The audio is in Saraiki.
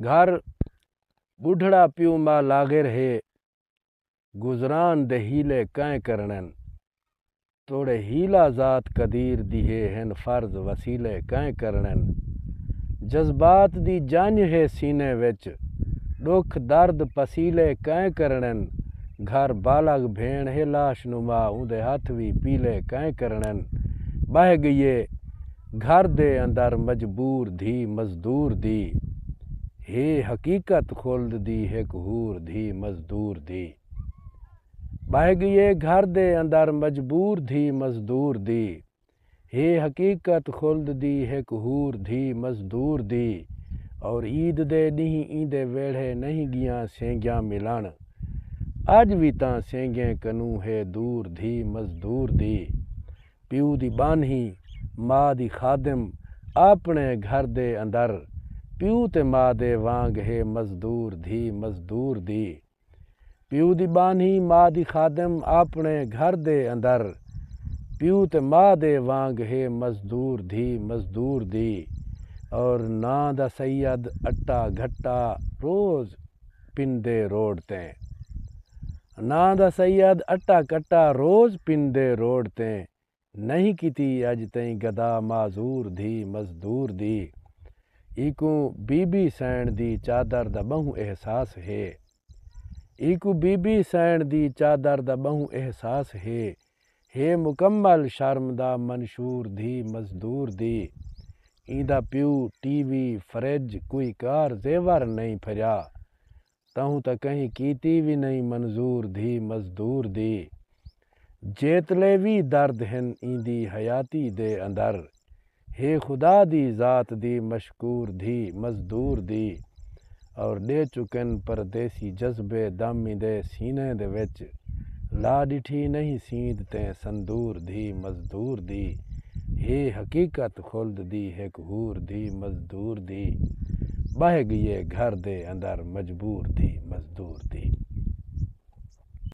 گھر بڈھڑا پیو ما لاغر ہے گزران دے حیلے کئیں کرنن توڑے حیلہ ذات قدیر دی ہے ہن فرض وسیلے کئیں کرنن جذبات دی جنج ہے سینے وچ ڈکھ درد پسیلے کئیں کرنن گھر بالغ بھیݨ ہے لاش نما اوندے ہتھ وی پیلے کئیں کرنن بہہ گئیے گھر دے اندر مجبور دھی مزدور دی ہے حقیقت خلد دی ہک حور دھی مزدور دی ٻہہ ڳیے گھر دے اندر مجبور دھی مزدور دی ہے حقیقت خلد دی ہک حور دھی مزدور دی اور عید دے ݙینہہ ایندے ویڑھے نہیں ڳیاں سینگیاں ملݨ اڄ وی تاں سینگیں کنوں ہے دور دھی مزدور دی پیو دی ٻانھی، ماء دی خادم، آپݨے گھر دے اندر پیو تے ماء دے وانگ ہے مزدور دھی مزدور دی پیو دی ٻانھی، ماء دی خادم، آپݨے گھر دے اندر پیو تے ماء دے وانگ ہے مزدور دھی مزدور دی اور ناں دا سید اٹا گھٹا روز۔ پندے روڈ تے ناں دا سید اٹا کٹا روز پندے روڈ تے نہیں کیتی اج تئیں گدا معذور دھی مزدور دی ایکوں بی بی سئین دی چادر دا بہوں احساس ہے ایکوں بی بی سئین دی چادر دا بہوں احساس ہے ہے مکمل شرم دا منشور دھی مزدور دی ایندا پیو ٹی وی فرج کوئی کار زیور نئیں پھریا تہوں تاں کہیں کیتی وی نئیں منظور دھی مزدور دی جیتلے وی درد ہن ایندی حیاتی دے اندر ہے خدا دی ذات دی مشکور دھی مزدور دی اور ݙے چکن پردیسی جذبے دامی دے سینے دے وچ لا ݙٹھی نہیں سیند تے سندور دھی مزدور دی ہے حقیقت خلد دی ہک حور دھی مزدور دی ٻہہ ڳیے گھر دے اندر مجبور دھی مزدور دی۔